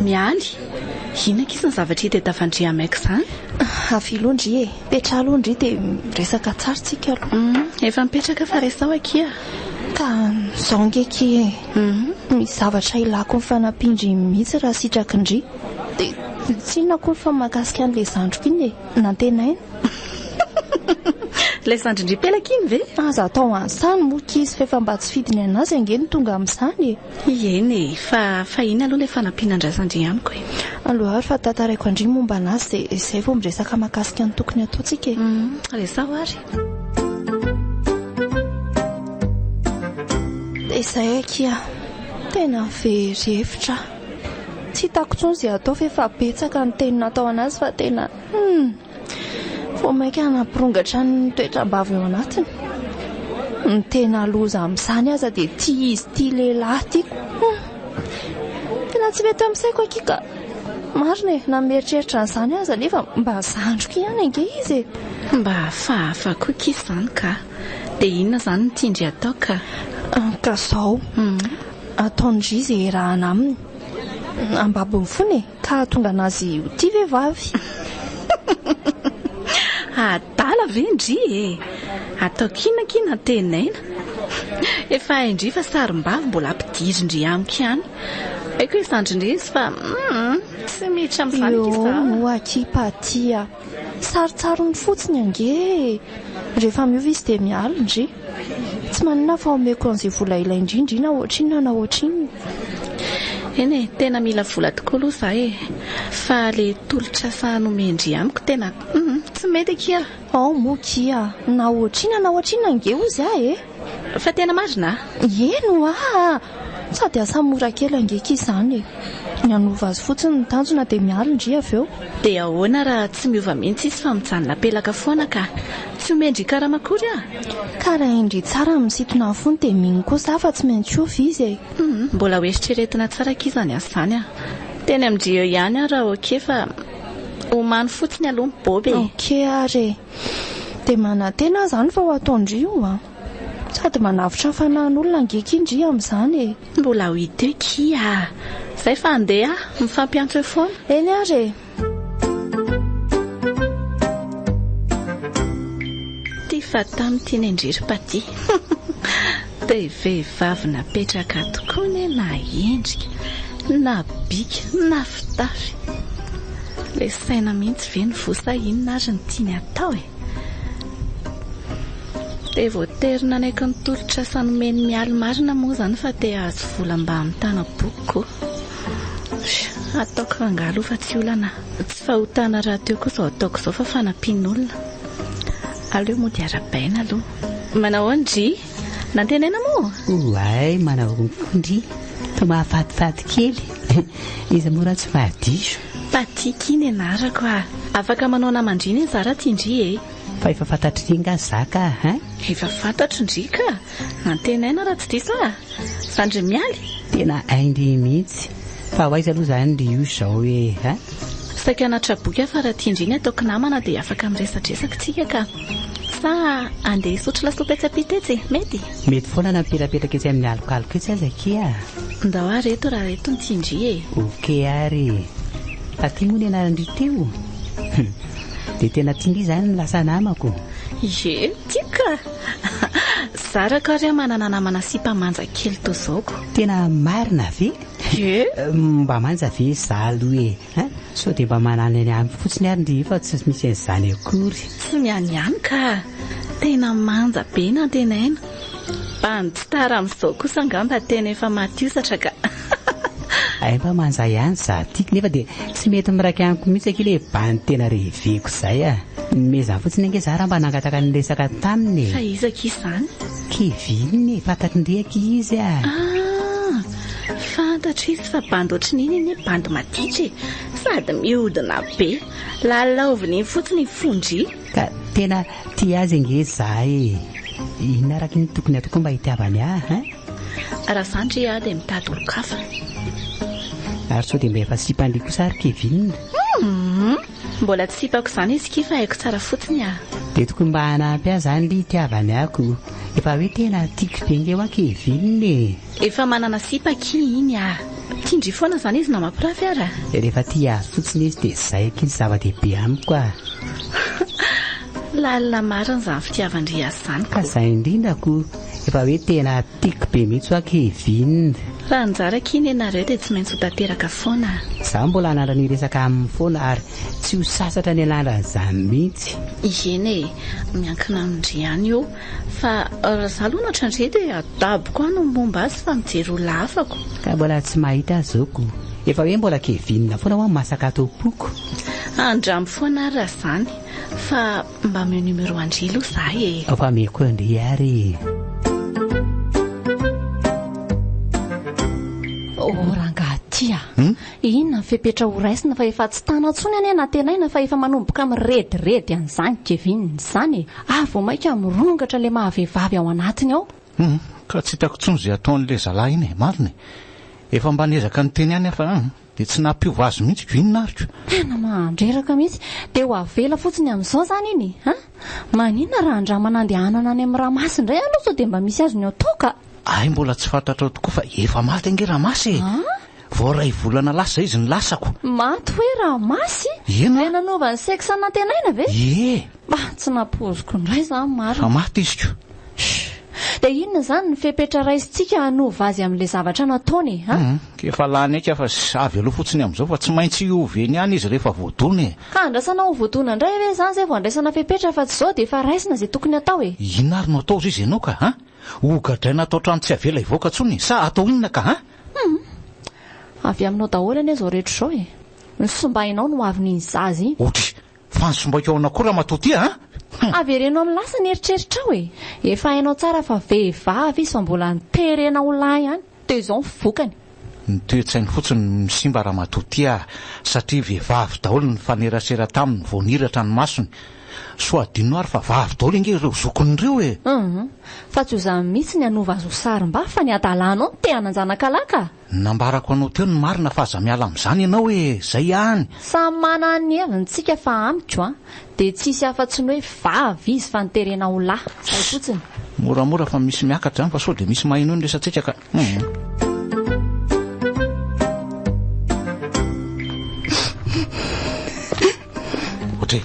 Mialy, inona kisa ny zavatra hita eto Fandria Amek zany? Avia aloha ndry e, petraha aloha ndry dia miresaka tsara tsika aloha. Hum, efa mipetraka fa resao akia. Ka zao nge ki e, misy zavatra ilako ny fanampian-dry mihitsy raha sitraky ndry. Dia tsy inona akory fa mahakasika an'ilay zandriko iny e. Nantenaina. Ilay zandrin-dRipelaka iny ve? Aza atao an'sany moa kizy f'efa mba tsy fidiny an'azy ange no tonga amin'izany e! Ieny e! Fa fahiny aloha ilay fanampiana an-dRazandria amiko e! Aleo ary fa tantaraiko an-dry momba an'azy dia izay vao miresaka mahakasika ny tokony ataontsika e! Hum, resaho ary. Dia izay akia, tena very hevitra aho. Tsy hitako tsony ze atao f'efa betsaka ny teny natao anazy fa tena humm! Vao maika nampirongatra ny toetram-bava eo anatiny. Ny tena loza amin'izany aza dia tia izy tia lehilahy tiako. Humm! Tena tsy mety amin'ny saiko akia ka. Marina e, na mieritreritra an'izany aza nefa mba zandriko ihany ange izy e. Mba hafahafa koa akia izany ka. Dia inona izany no tian-dry atao ka? Ka zao. ataon-dry ze erahana aminy ambabony fona e! ka hahatonga anazy ho tia vevavy. Adala ve ndry e! ataoko ina akia nantenaina? efa hain-dry fa sarim-bavy mbola ampidirin-dry amiko ihany. Haiko hoe zandrin-dry izy fa hum tsy miditra amin'izany akia za. Io moa akia Paty a! Sarotsarony fotsiny ange e! Rehefa miova izy dia miala, ndry. Tsy maninona fa omeko an'izay vola ilainy indrindra iny aho ohatrinona na ohatrinona. Eny e, tena mila vola tokoa aloha izaho e! Fa ilay tolotr'asa nomen-dry amiko tena, humm, tsy mety akia! Ao moa akia! Na ohatrinona na ohatrinona ange hozy aho e! Fa tena marina a! Eny oa a! Sady asa mora kely ange ki izany e! Ny hanova azy fotsiny ny tanjona dia miala ndry avy eo. Dia ahoana raha tsy miova mihitsy izy fa mijanona pelaka foana ka! Tsy omeny ndry karama akory a! Ka raha indry tsara ny misintona ny fony dia mino koa za fa tsy maintsy hiova izy e! Hum! Mbola ho eritreretina tsara ki izany asa izany a! Teny amin-dry eo ihany aho raha ok fa omano fotsiny aloha mibob e! Ok ary e! Dia manantena aho izany fa ho ataon-dry io an! Sady manavotra ny fanahin'olona ange kin dry amin'izany e! Mbola ho hita eo kia a! Izay fa handeha aho, mifampiantso eo foana. Eny ary e! Ty Fatah mitia Nendry ry Patty. Be vehivavy napetraka ato koa ne na endrika, na bika, na fitafy. Le saina mihitsy ve no voa sa inona ary no tiany atao e? Dia voatery nanaiky ny tolotr'asa nomen'i Mialy marina moa izany fa te hahazo vola mba hamitana boky ko. Ataoko rangahy aloha fa tsy olana. Tsy fahotana rahateo koa izao ataoko izao fa fanampian'olona. Aleo mody arahabaina aloha. Manahoana ndry? Nantenaina moa? Ouay, manahoana koa ndry? Toa mahafatifaty kely eh! Iza moa raha tsy fahadiso? Patiky ny anarako ah! Afaka manao naman-dry anie za raha tia ndry eh! Fa efa fantatry ndry nga za ka hein? Efa fantatro ndry ka! Nantenaina raha tsy diso ah! Fa ndry mialy? Tena hay ndry mihitsy! Fa ho aiza aloha zany ndry io izao eh! Saika anaty traboky aho fa raha tia ndry ny ataoko namana dia afaka miresadresaka tsika ka! Sa andeha hisotro lasopy etsy ampita etsy e? Mety? Mety foana na mipetrapetraka etsy amin'ny alokaloka etsy aza akia a! Ndao ary eto raha eto ny tsindry e! Ok ary e! Taty moa ny anaran-dry Teo? Hum! Dia tena tian'ry izany ny lasa namako? Ie! Tiako ka! Zarako ary an manana namana sipa manja kely toa izao ko! Tena marina ve? Ie! Mba manja ve izaho aloha e! Hein? Sao dia mba manana ny aniko fotsiny ary ndry fa tsy misy an'izany akory. Tsy ny an'ny ihany ka! Tena manja be nantenaina. Mba ny gitara amin'izao kosa angamba tena efa maty hosatra ka! Hay mba manja ihany za tiako nefa dia tsy mety miraika amiko mihitsy akia le band tena reveko izay a! Nomezany fotsiny ange za raha mba nangataka ny resaka taminy e! Fa iza akia izany? Kevin e! Fantatry ndry akia izy a! Ah! Fantatro izy fa bandy ohatrin'iny anie bandy maditra e! Sady mihodina be! Lalaoviny iny fotsiny i Fonjy! Ka tena tia azy ange izahay e! Inona araka ny tokony hatao koa mba hitiavany ahy hein? Raha izany ndry aho dia mitady olon-kafa! Ary sao dia mba efa sipan-dry kosa ary Kevin? Humm! Mbola tsy sipako izany izy ky fa haiko tsara fotsiny aho! Dia tokony mba hanampy ahy izany ndry hitiavany ahy ko! Efa hoe tena tiako be ange hoa Kevin e! Efa manana sipa akia iny ah. Tia ndry foana zany izy namapirafy ara. Rehefa tia azy fotsiny izy dia zay akia ny zava-dehibe amiko ah. Lalina marina zany fitiavan-dry azy zany ko. Ka zay indrindra ko. Efa hoe tena tiako be mihitsy hoa Kevin. Raha anjara akia nenareo dia tsy maintsy ho tanteraka foana ah. Za mbola hanandra ny resaka aminy foana ary tsy ho sasatra ny hanandra an'izany mihitsy. Ieny e, miankina amin-dry ihany io. Fa raha za aloha natrandria dia adaboko any ny momba azy fa mijery olona hafa ko. Ka mbola tsy mahita azy zao ko. Efa hoe mbola kevinina foana hoa masaka ato am-poko. Andramo foana ary raha zany. Fa mba ameo numero an-dry aloha za e. Ao fa ameko an-dry ary e. Oh rangahy ty a! Inona ny fepetra ho raisina fa efa tsy tana intsony anie nantenaina fa efa manomboka mirediredy an'izany Kevin izany e! ary vao mainka mirongatra ilay maha vehivavy ao anatiny ao. Humm ka tsy hitako intsony izay ataon'ilay zalahy iny e! marina e! efa mba niezaka niteny ihany aho fa an! dia tsy nampiova azy mihitsy ko inona ary ko! Tena mandreraka mihitsy! Dia ho avela fotsiny amin'izao izany iny e! an! maninona raha andramana andehanana any amin'ny Ramasy indray aloha sao dia mba misy azony ao toaka? Hay mbola tsy fantatrao tokoa fa efa maty ange Ramasy e! Vao iray volana lasa izy nilasako. Maty hoe raha masy? Eny a! Ilay nanova ny sexe nantenaina ve? Ie! Mba tsy nampoiziko indray izany marina. Fa maty izy ko! Shh! Dia inona izany ny fepetra raisintsika hanova azy amin'ilay zavatra nataony a? Hum! Efa lany aika fa sh! Avy aloha fotsiny amin'izao fa tsy maintsy hiova eny ihany izy rehefa voadona e! Ka andrasana ho voadona indray ve izany izay vao andraisana fepetra fa tsy izao dia efa raisina izay tokony hatao e! Inona ary no hatao hozy izy ianao ka a! Hogadraina ato an-trano tsy avela hivoaka intsony sa hatao inona ka a! Hum! Avy aminao daholo anie izao rehetra izao e! Ny fisimbahinao no avy n'iny zaza iny. Otry! Fa ny simbaiko ao nakory ramatoa ty a! Hum! Avereno amin'ny lasa ny eritreritrao e! Efa hainao tsara fa vehivavy izy fa mbola niterena ho lahy ihany, dia izao ny vokany. Ny toe-tsainy fotsiny no nisimba ramatoa ty a! Satria vehivavy daholo ny nifanerasera taminy vao niratra ny masony. So hadinonao ary fa vavy daholo ange ireo zokiny ireo e! Hum, fa tsy ho zany mihitsy ny hanova azy ho sarim-ba fa ny hadalanao no te hanan-janakalahy ka! Nambarako anao teo ny marina fa aza miala amin'izany ianao e! Izay ihany! Samy manana ny heviny tsika fa amiko an, dia tsy hisy afa-tsy ny hoe vavy izy fa ny terena ho lahy! Izay fotsiny! Moramora fa misy miakatra izany fa sao dia misy maheno ny resatsika ka! Ohatry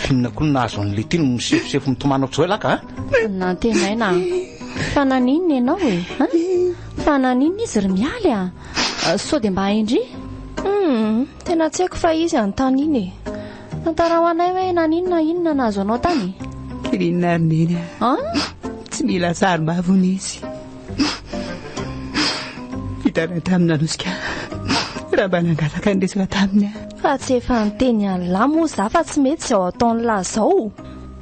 finina koa ny nahazo an'ilay tiny misefosefo mitomana ohatr'izao ilaka a ah. nantenaina a fa naninona ianao e a fa naninona izy ry mialy a sao dia mba haindry hmm. Tena tsy haiko fa izy any tany iny e. Tantarao anay hoe naninona inona nahazo anao tany? Kirinina ary neny a. Tsy mila sarombavu nisy. Vitanay taminy nanosika raha mba nangataka ny resaka taminy a. Fa tsy efa niteny an'lah moa za fa tsy mety izao ataon'lah zao.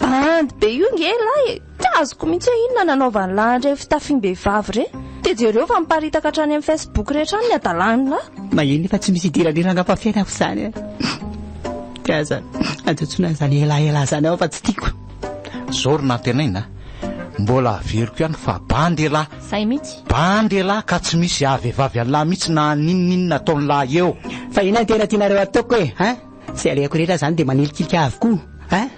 Bandy be io nge lah e. Tsy azoko mihitsy hoe inona nanaovan'i lahy an'ireny fitafiam-behivavy ireny. Dia jereo fa miparitaka hatrany amin'ny Facebook rehetra any ny hadalàn'i lahy. Maheno fa tsy misy hidiran'irany angamba fiainako izany an! Dia aza ajotsonao izany elaela izany ao fa tsy tiako. Izao ry Nantenaina a! Mbola averiko ihany fa bandy elah! Zay mihitsy! Bandy elah ka tsy misy haha-vehivavy an'lah mihitsy na n'inon'inona ataon'lah eo! Fa inona no tena tianareo ataoko e! Zay alehako rehetra zany de manilikilika avokoa hein.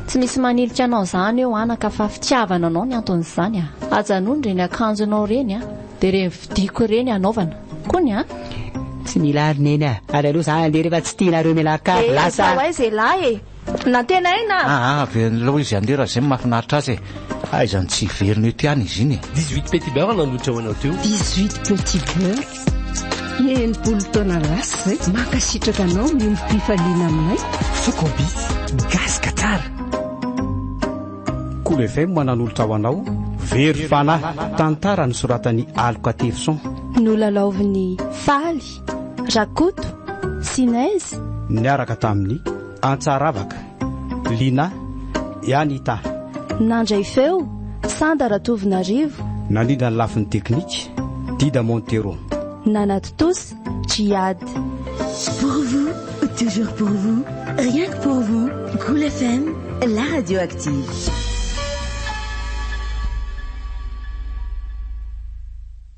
Tsy misy manilika anao zany eo anaka fa fitiavana anao ny anton'izany a. Ajanony reny akanjonao reny a de reny vidiko reny anaovana kony a. Tsy mila ary neny a. Ary aleo za handeha refa tsy tianareo mialakavy lasa a. Eeh, tao aiza elah e. Nantenaina! Aa avy an'ilay izy handeha raha izay no mahafinaritra azy e! Aiza no tsy hiverina ety ihany izy iny e! Dix huit petit beurre nandroitra ho anao teo. Dix huit petit beurre, enimpolo taona lasa izay. Mankasitraka anao miombom-pifaliana aminay. Focobis, gasy ka tsara! Cool FM mananolotra ho anao Very fanahy, tantara nosoratan'i Aloka Tefson. Nolalaovin'i Faly. Rakoto, Sinez. Niaraka tamin'i Antsaravaka, Lina, i Anita. Nandray feo, Sanda Ratovonarivo. Nandrindra ny lafiny teknika, Dida Montero. Nanatontosa, Djihad. Pour vous, toujours pour vous, rien que pour vous, Cool FM, la radio active.